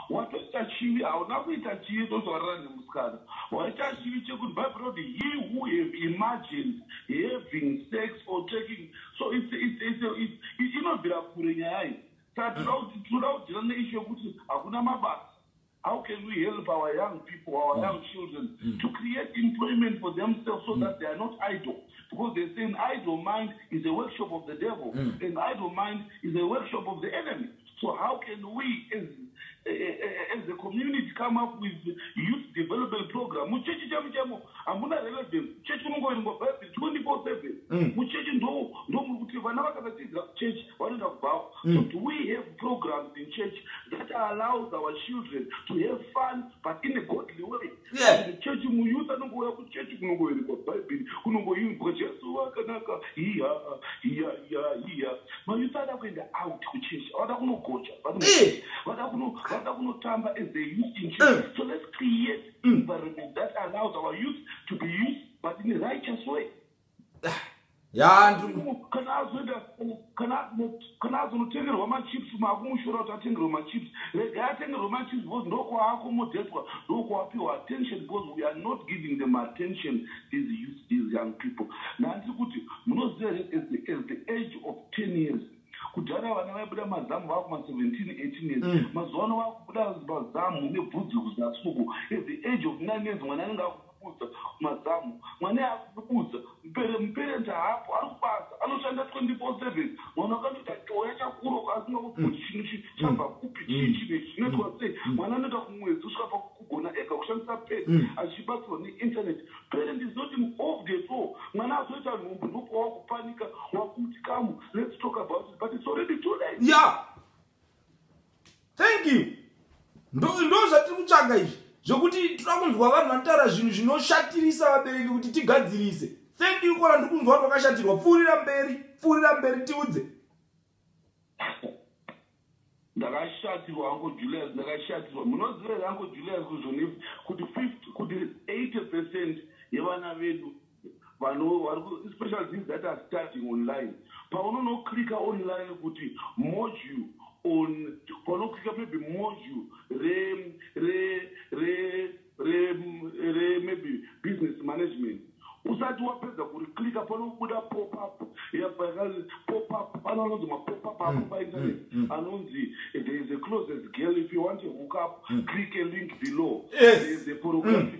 watoita chivi hauna kuita chivi ndozvarira nemusikana waita chivi chekuti bible roti he who have imagined having sex or taking so inobvira kure nyaya iyi saka tinoda kudira neishu yekuti hakuna mabasa how can we help our young people our mm. young children mm. to create employment for themselves so mm. that they are not idle because they say an idle mind is a workshop of the devil mm. an idle mind is a workshop of the enemy So how can we as, as a community come up with youth development program? Muchechi chemu chemo hamuna relevance. Chechi unongoverengwa Bible 24/7. Mm. Muchechi ndo ndo muri kuti vana vakasatidzira kuchechi vanoenda kubhawa. Mm. So do we have programs in church that allows our children to have fun but in a godly way? Yeah. chechi muyuth anongouya kuchechi kunongoverekwa bhaibheri kunongoimbwa jesu vakanaka hiya hiya hiya hiya mayuth ada kuenda out kuchechi avada kunogocha vada Eh. kuno- vada kuno- vada kunotamba as they used in church Eh. so let's create environment that allows our youth to be used but in a righteous way Kana azonotengerwa machips makumushora kuti atengerwe machips regai atengerwe machips because ndokwaakomodhetwa ndokwaapiwa attention because we are not giving them attention these youth these young people nhandiri kuti munoziva here as the, as the age of 10 years kudhara vana vaibuda mazamu vakuma 17 18 years mm. mazuva ano vakubuda mazamu nebvudzi kuzasuku at the age of 9 years mwana anenge Kudza mazamu mwana akudududza mupere muparent haapo ari kubasa anoshanda 24/7 mwana ukandoita choya chakura uko asingakuti kuti chinhu ichi chabva kupi chii chinhu ichi chinoitwa sei mwana anoita kumwedzi kusvika pakugona ega kushandisa pad achibatsirwa neinternet parent is not involved at all mwana azoita nhumbu ndopawakupanika wakuti kamu let's talk about it but it's already too late. Yeah. thank you ndo zvatiri kutsvaga izvi zvekuti tinoda kunzwa vanhu vanotaura zvinhu zvinoshatirisa vabereki kuti tigadzirise thank you kona ndiri kunzwa vanhu vakashatirwa pfuurira mberi pfuurira mberi tiudze ndakashatirwa anko julius ndakashatirwa munoziva here anko julius kuzonif kuti 5 kuti 80 percent yevana vedu Vanhu vari ku, especially these that are studying online, paunonoclicka online kuti module on, paunoclicka maybe module re re re re re maybe business management usati wapedza kuriclicka panobuda pop up yakanzi pop up pano anonzi mapop up apo mm, painternet mm, mm. anonzi there is a closes girl if you want a hook up click a link below there is a pornographic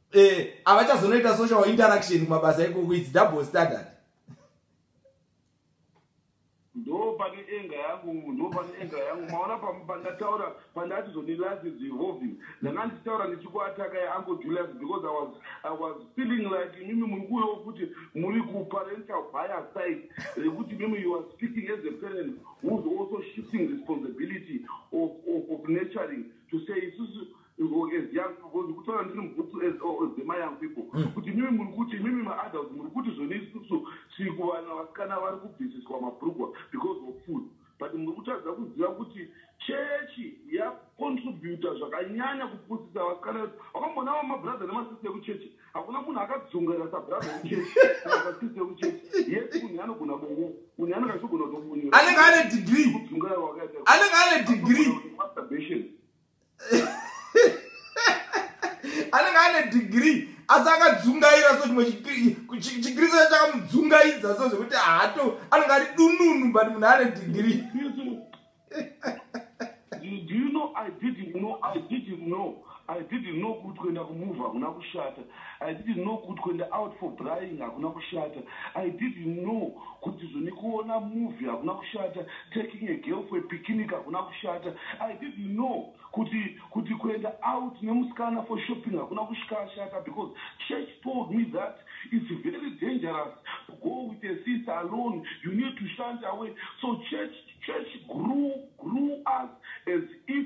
eh avachazonoita social interaction kumabasa ikoko its double standard ndo pane enga yangu ndo pane enga yangu maona pandataura pandati zvoni life is evolving ndanga ndichitaura ndichikuataka yeango julius because i was i was feeling like imimi muri kuuyawo futi muri kuparental bias side rekuti imimi you are speaking as a parent whois also shifting responsibility of, of, of naturing to say isusu or as young people because kutaura ndiri mubhutu as or as my young people mm. kuti imimi muri kuti imimi maadults muri kuti zvoni isusu tiri kuvana vasikana vari kubvisiswa mabrugwa because of food but muri kutadza kuziva kuti chechi yacontributa zvakanyanya kupusisa vasikana vedu vakamboona va mabrother nemasisi ekuchechi hakuna munhu akadzungaira sabrother ekuchechi masisi ekuchechi yes munhu anogona bongo munhu anenge achigona kutobunyura anenge ane degree kudzungaira wakaita anenge ane degree masturbation anenge ane degree asi akadzungaira so chimwe chikristu chakamudzungaidza so zvekuti hato anenge ari dununu but munhu ane digiri kuti kuenda kumuva hakuna kushata I didn't know kut kuenda out for brying hakuna kushata I didn't know kuti zvnikuona movie hakuna kushata taking a girl for a picnic hakuna kushata I didn't know kuti kuti kuenda out nemusikana for shopping hakuna kushkashata because church told me that it's very dangerous to go with a sister alone you need to shunt away so church church grew grew us as if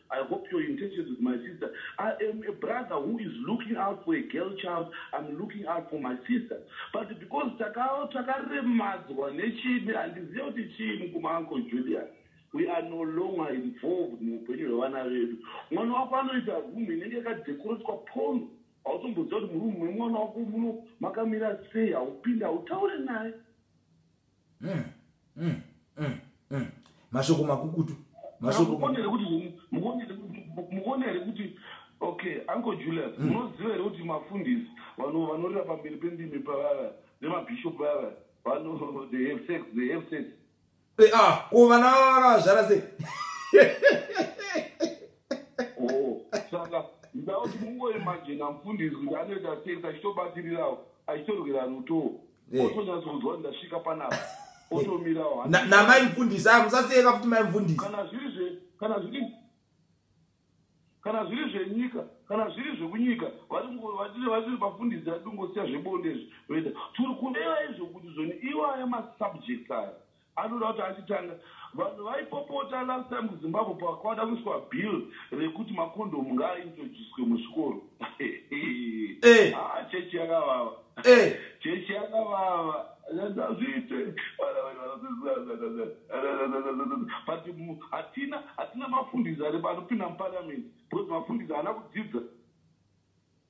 I hope your intentions with my sister. I am a brother who is looking out for a girl child. I'm looking out for my sister. But because takaremadzwa nechii handizive kuti chii mukoma uncle Julian. We are no longer involved muupenyu hwevana vedu. Mwana wako anoita room inenge yakadekoretswa pono. Hautomboziva kuti murumu memwana wako muno makamira sei, haupinde, hautaure naye. mm, mm, mm, mm. mashoko makukutu mashokokone here kuti mukone here kuti okay uncle julius mm. munoziva here kuti mafundisi vanorira pamberi pendimi pavava nemabishop vava vano they have sex they have sex eh, ah ko vana vakazvara sei oh, saka ndakuti mungoimajina mufundisi kuti anoita sex achitobatirirawo achitorwira ruto otonyatsokunzwa ndasvika panapa otomirawo namai mfundisi aya musasiyeka futi mai mfundisi kana zviri zve kana zviri kana zviri zvenyika kana zviri zvekunyika vatiri vafundisi ati ungosiya zvebonde izvi oita tiri kureva izvo kuti zvoni iwaya masubject aya Anoda kuti achitanga vanhu vaipopota last time kuZimbabwe pakwada kuiswa bill rekuti macondom ngaaintroducwe muzvikoro. Eh. Haa chechi yakavava. Eh. Chechi yakavava. Hazviite. Vana vedu vanodzidzisa. But mu- hatina hatina mafundisi ari anopinda muparliament because mafundisi haana kudzidza.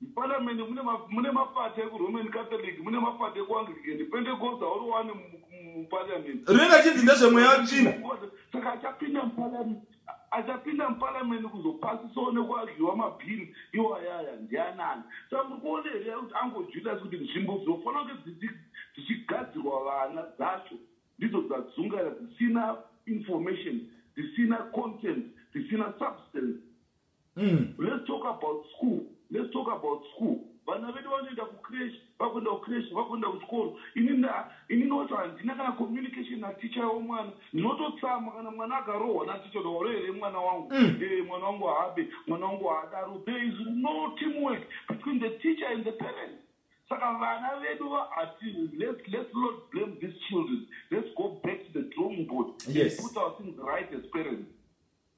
Muparamende mune ma, mune maparty ekuRoman Catholic, mune maparty ekuAnglican, Pentecost hauri wani mu- mu- muparliament. Rinenge achinzi ndezvemweya wetsvina. Saka achapinda muparliament, achapinda muparliament kuzopasisawo nekuargyiwa mabhiri iwayaya ndianani? Saka muri kuona here kuti Uncle Julius kuti nzvimbo dzinofanira kunge dzichi- dzichigadzirwa vana dzacho ndidzo dzadzungaira dzisina information, dzisina content, dzisina substance. Umm let's talk about school let's talk about school vana vedu vanoenda kucresh vakuenda kucresh vakuenda kuchikoro inini ah, inini wacho handina kana communication naticha yavo mwana ndinototsamwa kana mwana akarohwa naticha kuti waroherei mwana wangu mm. e, mwana wangu haabe mwana wangu haadaro there is no teamwork between the teacher and the parent saka vana vedu vaati let's, let's not blame these children let's go back to the drawing board yes. and put our things right as parents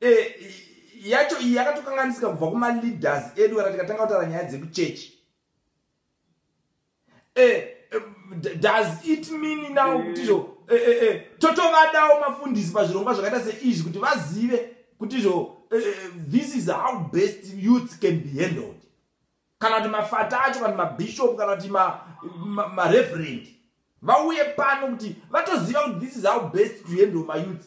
E, yacho iyi yakatokanganisika kubva kumaleaders edu kana tikatanga kutaura nyaya dzekuchechi e, eh, e, eh, does it mean now mm. kuti zvo e, e, e, totovadawo mafundisi pazvirongwa zvakaita seizvi kuti vazive kuti zvo e, this is how best youth can be handled kana kuti mafata acho kana mabishop kana kuti mareverend ma, ma vauye pano kuti vatoziva kuti this is how best to handle mayouth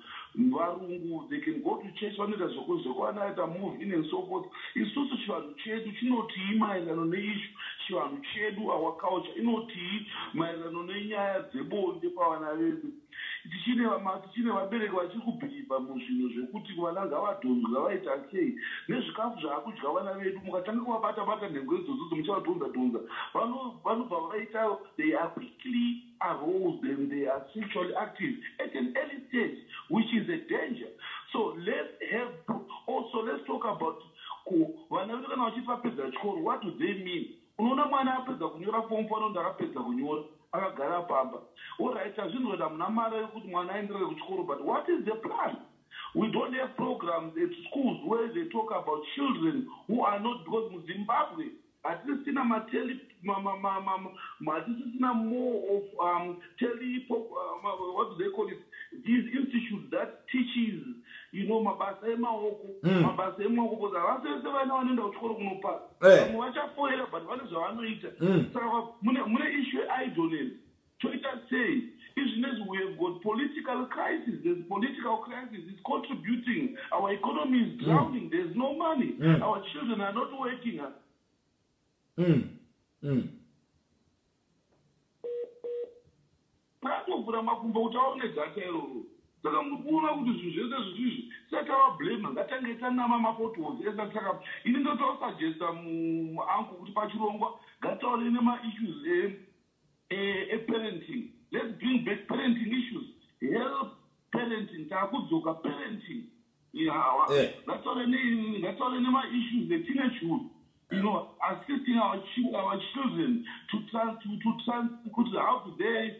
Varungu they can go to church vanoita zvekunzwa kwana aita move in and so forth. Isusu chivanhu chedu chinotii maererano neishu chivanhu chedu our culture inotii maererano nenyaya dzebonde pavana vedu. Tichine vama tichine vabereki vachiri kubhirivha muzvinhu zvekuti vana ngavadhonzwe ngavaita sei nezvikafu zvaakudya vana vedu mukatanga kuvabata bata nhengo idzodzo dzomuchaadhonza dhonza vano vanobva vaita they are quickly arose them they are sexually active at an early stage which is a danger so let's have also let's talk about ko vana vedu kana vachiti vapedza chikoro what do they mean unoona mwana apedza kunyora form fo anonda akapedza kunyora akagara pamba orit tazvinzwati hamuna mari yekuti mwana aenderere kuchikoro but what is the plan we don't have programs at schools where they talk about children who are not because muzimbabwe Hatisisina ma tele ma ma ma ma ma hatisisina more of um, tele pop, um, what do they call it these institutes that teaches you know mabasa emaoko mm. mabasa emaoko because havasi vese vana vanoenda kuchikoro kunopasa eh. vamwe hey. vachafoira but vane zvavanoita mm. saka mune, mune issue yeidleness Toita sei izvi nezvi we have got political crisis there's political crisis is contributing our economy is mm. drowning mm. there's no money mm. our children are not working us mm. mm. atovhura makumbo kuti aone data iroro saka muri kuona kuti zvinhu zvese zvisizvi satava blame ngatange tanama mapotholes esa saka ini ndotosuggesta muanko kuti pachirongwa ngataure nemaissues eh, eparenting let's bring back parenting issues help parenting taakudzoka parenting ihawa eh. ngatore ngatore nemaissues etinechud you know assisting our, our children to, trans, to, to trans, kuti how to they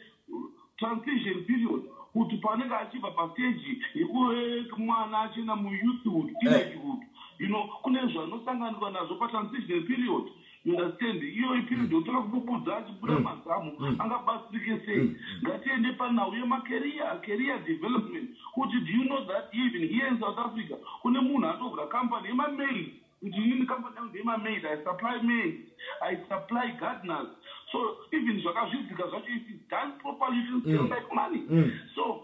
transition period kuti paanenge achibva pasteji yekuve mwana achina muyouthhood eh. teenagehood you know kune zvanosanganikwa nazvo patransition period eh. You understand? Iyoyi period yotanga kububudza achibuda mazamu angabatsirike sei. Ngatiende panhau yemacareer, career development. Kuti do you know that even here in South Africa kune munhu atovhura company yemamaid. Kuti inini company yangu ndeyemamaid, I supply maids, I supply gardeners. So even zvakazvidzika zvacho if it's done properly it will still make money. So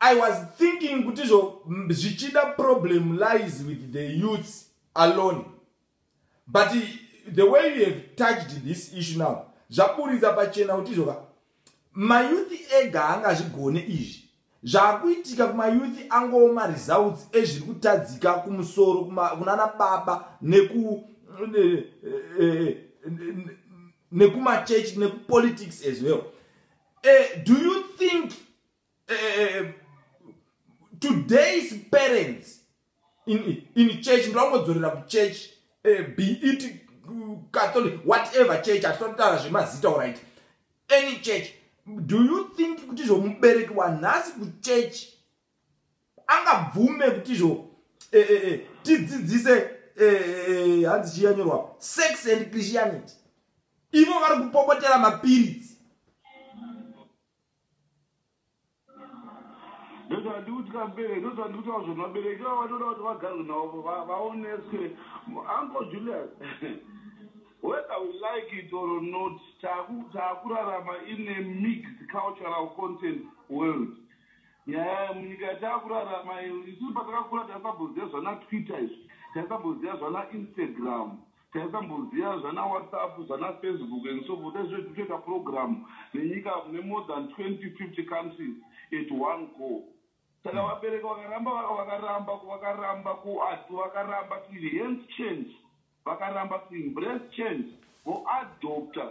I was thinking kuti zvo zvichida problem lies with the youths alone but the way you have touched this issue now zvaburitsa pachena kuti zvoka mayouthi ega anga zvigone izvi zvakuitika kumayouthi angowo maresults ezviri kutadzika kumusoro kunana baba neku eh, eh, nekumachurch nekupolitics as well uh, do you think eh, today's parents in, in church ndoangodzorera kuchurch eh, be it uh, catholic whatever church atisanotara zvemazita orit any church do you think kuti izvo mubereki wanhasi kuchurch angabvume kuti izvo eh, eh, eh, tidzidzise eh, eh, eh, hanzi chiyanyorwa sex and christianity ivo vari kupopotera mapiritsi ndozvandikuti kamubereki ndozvandikuti vazvo vabereki vavo vanoda kuti vagarwe navo vaoneswe uncle julius whether we like it or not taakurarama in a mixed cultural content world nyaya munyika yataakurarama isu patakakura taisamboziva zvana twitter izvi taisamboziva zvana instagram Taisamboziva zvana WhatsApp, zvana Facebook and so forth. Taizoti totoita program nenyika mune more than 20, 50 countries at one go. Saka hmm. vabereki vakaramba vakaramba vakaramba kuad vakaramba to enhance change, vakaramba to embrace change, voadopter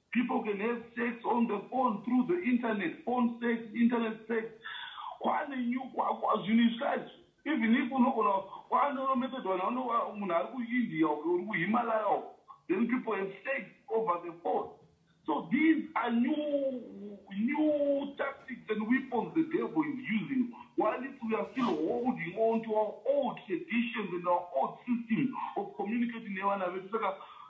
People can have sex on the phone through the internet phone sex internet sex kwane new kwakwa zvinhu izvi kaizi even if unogona kwaanoro method vanhu vanova munhu ari kuindia uko uri kuhimalaya uko then people have sex over the phone so these are new new tactics and weapons the devil is using while if we are still holding on to our old traditions and our old system of communicating nevana vedu saka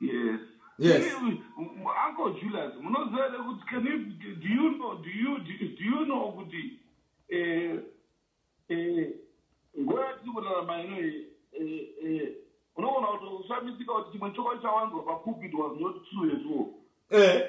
Yes. Yes. Uncle Julius, munoziva here kuti can you, do you know, do you, do you know kuti eh, eh, nguva yatiri kurarama ino iyi eh, eh, unogona kuti ushamisika kuti chimwe chokwadi chawanzwa papulpit was not true at all. Eh.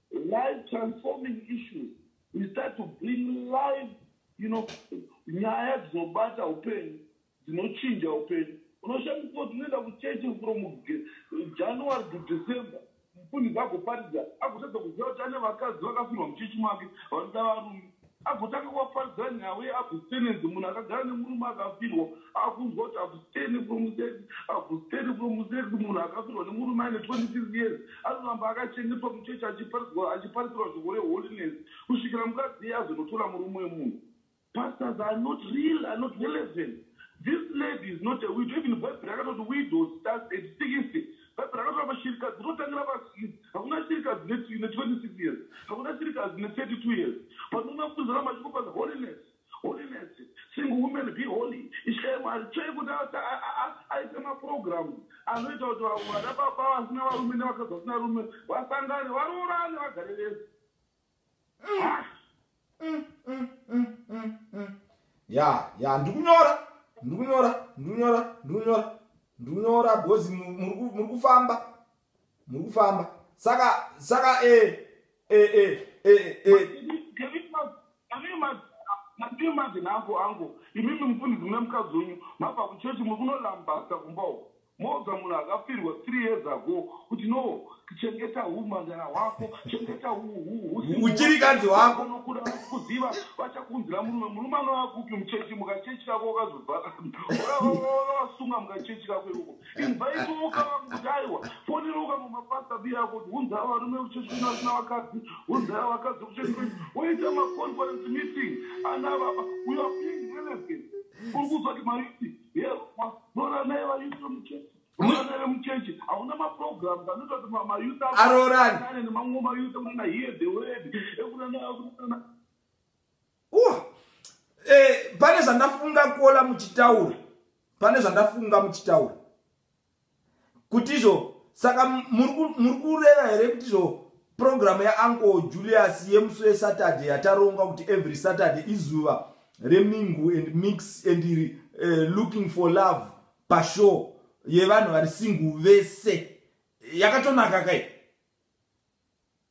Life transforming issues we start to bring life you know nyaya dzinobata upenyu dzinochinja upenyu unoshandisa kuti unoenda kuchechi from january to december mufundisi agoparidza agotadza kuziva kuti ane vakadzi vakafirwa muchechi make vanoda varume Agotanga kuvaparidzira nhau ye abstinence munhu akagara nemurume akafirwa akunzwa kuti abstain from sex abstain from sex munhu akafirwa nemurume aine 26 years anoramba akachengetwa muchurch achiparidzwa achiparisirwa shoko re holiness kusvikira mukadzi iye azonotora murume wemunhu Pastors are not real are not relevant this lady is not a widow even bhaibheri rakatoti widows starts at 60 Bhaibheri rinotaura kuti shirikadzi dzinotangira pasikisi. Hakuna shirikadzi ine 26 years. Hakuna shirikadzi ine 32 years. Panoona kunzi ramba chiko panzi holiness. Holiness. Single women be holy. Ishaye mari. Tsvee kuti aise maprograms anoita kuti vana baba vasina varume nevakadzi vasina rume vasangane, varoorane, vagare vese. ya ya ndikunyora ndikunyora ndikunyora ndikunyora ndikunyora because muri kufamba muri kufamba saka saka e e e e e mativi mazina angu angu imimi mufundisi mune mukadzi wenyu mabva kuchechi muri kunolambasa kumbawo Moudza munhu akafirwa three years ago kuti no chengeta humhandara hwako chengeta uchirikadzi wako nokuda vakuziva vachakunzira murume murume anova kupi muchechi mukachechi kako wakazobvaka wakasunga mukachechi kako ikoko invite ukava kuti aiwa foniruka mumapasa bi yako kuti hunzaa varume kuchechi kuna vasina vakadzi hunzaa vakadzi kuchechi kwenyu woita maconference meeting ana baba uyo being relevant uri kuzoti maiti aroorani eh, pane zvandafunga kuola muchitaura pane zvandafunga muchitaura kuti izvo saka muri kureva here kuti izvo program yauncle julius yemusi wesaturday yataronga kuti every saturday izuva remingu and mix and uh, looking for love pashow yevanhu vari singu vese yakatonaka kai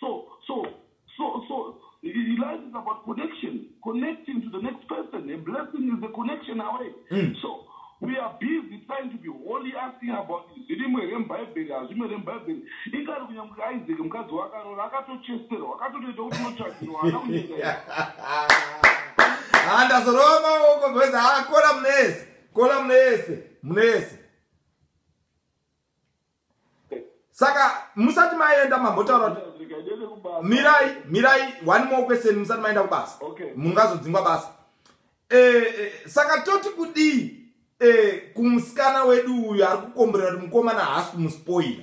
So, so, so, so, life is about connection, connecting to the next person. A blessing is a connection away. Mm. So, we are busy trying to be holy asking about zvirimwe here mubhaibheri hazvimwe here mubhaibheri ingari kunyange isaac mukadzi wakarora akatochesterwa akatotoita kuti unotsvagirwa ana kunyika handazorova maoko bcause haa kola mune yese kola mune yese mune yese saka musati maenda mambotaura kuti mirai mirai one more question musati maenda kubasa mungazodzingwa basa eh, eh, saka toti kudii eh, kumusikana wedu uyu ari kukomborera kuti mukomana haasi kumuspoira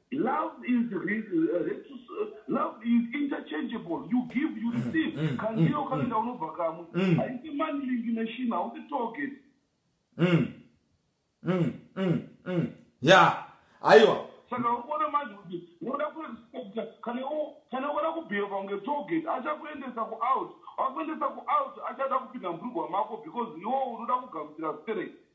Love is love is interchangeable you give you mm, receive mm, kandiyo mm, kanoenda unobva kamwe haisi money link machine hausi target ya aiwa saka uone manje kuti unoda kuexpecta kana unoda kubheheva kunge target achakuendesa kuout akuendesa kuout achada kupinda mbrugwa mako because iwo unoda kugamuchira sterek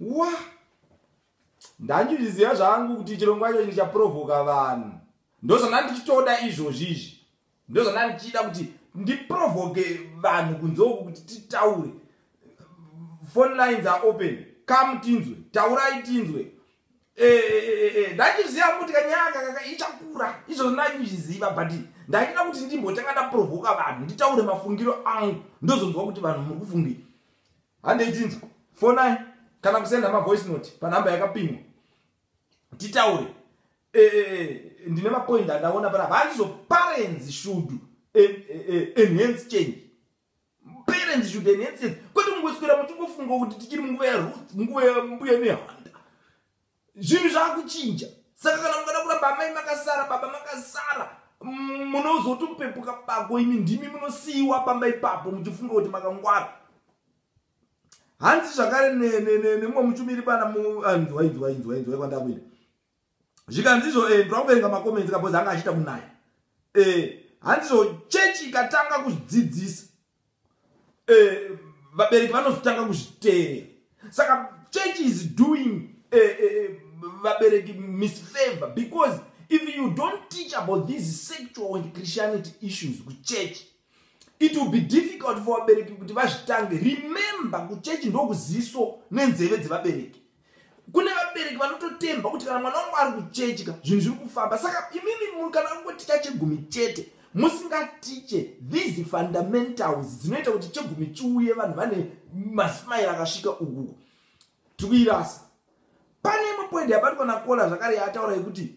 Wah ndandizviziva zvangu kuti chirongwa ichochi ndichaprovoka vanhu ndozvandandichitoda izvozvi izvi ndozvandandichida kuti ndiprovoke vanhu kunze uku kuti titaure phone lines are open come tinzwe taurai tinzwe eh, eh, eh, ndandizviziva kuti kanyaka kaka ichakura izvozvo ndandizviziva but ndachida kuti ndimbotanga ndaprovoka vanhu nditaure mafungiro angu ndozonzwa kuti vanhu muri kufungei handei tinzwa fonai kana kusenda mavoice note panhamba yakapimwa titaure e, e, e, ndine mapoint andaona panapa handizoparenzi shudu e, e, e, enhance change parents should enhance it kwete mungoswera muchingofunga kuti tichiri munguva yaruth munguva yambuya nehanda zvinhu zvakuchinja saka kana mukada kuramba amai makasara baba makasara munozotopepuka bako imi ndimi munosiyiwa pamba ipapo muchifunga kuti makangwara hanzi zvakare nemumwe muchumiri pana muinzwainzwainzwainzwa ah, kwandakuina zvikanzizvo eh, ndirakuverenga makomenzi kabozi anga achiita kunaya eh, hanzizvo chechi ikatanga kuzvidzidzisa eh, vabereki vanozotanga kuzviteerera saka church is doing eh, eh, eh, vabereki uh, uh, misfavor because if you don't teach about these sexual and christianity issues kuchurch it will be difficult for vabereki kuti vazvitange remember kuchechi ndokuziso nenzeve dzevabereki Kune vabereki vanototemba kuti kana mwana wangu ari kuchedya zvinhu zviri kufamba saka imimi munhu kana angoticha chegumi chete musingatiche these fundamentals dzinoita kuti chegumi chiuye vanhu vane masimaira akasvika ukuku tiri kuirasa pane imwe poindi yabatwa nakola zvakare yaataura yekuti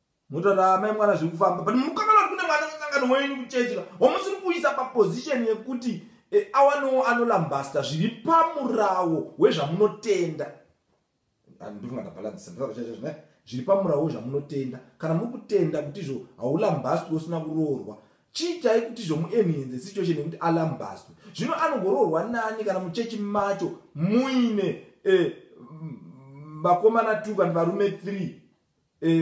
Mutaura amai mwana zviri kufamba but mukoma vari kune mwana musangano wenyu kuchechi ka wamusiri kuisa paposition yekuti e, awanowo anolambasta zviri pamurawo wezvamunotenda ndifungata balansa nditaura chaizvo zvine zviri pamurawo wezvamunotenda kana muri kutenda kuti izvo haulambastwi usina kuroorwa chiitai kuti izvo muenhenze situation yekuti alambastwi zvino anogoroorwa nani kana muchechi macho muine e, vakomana two kana varume three e,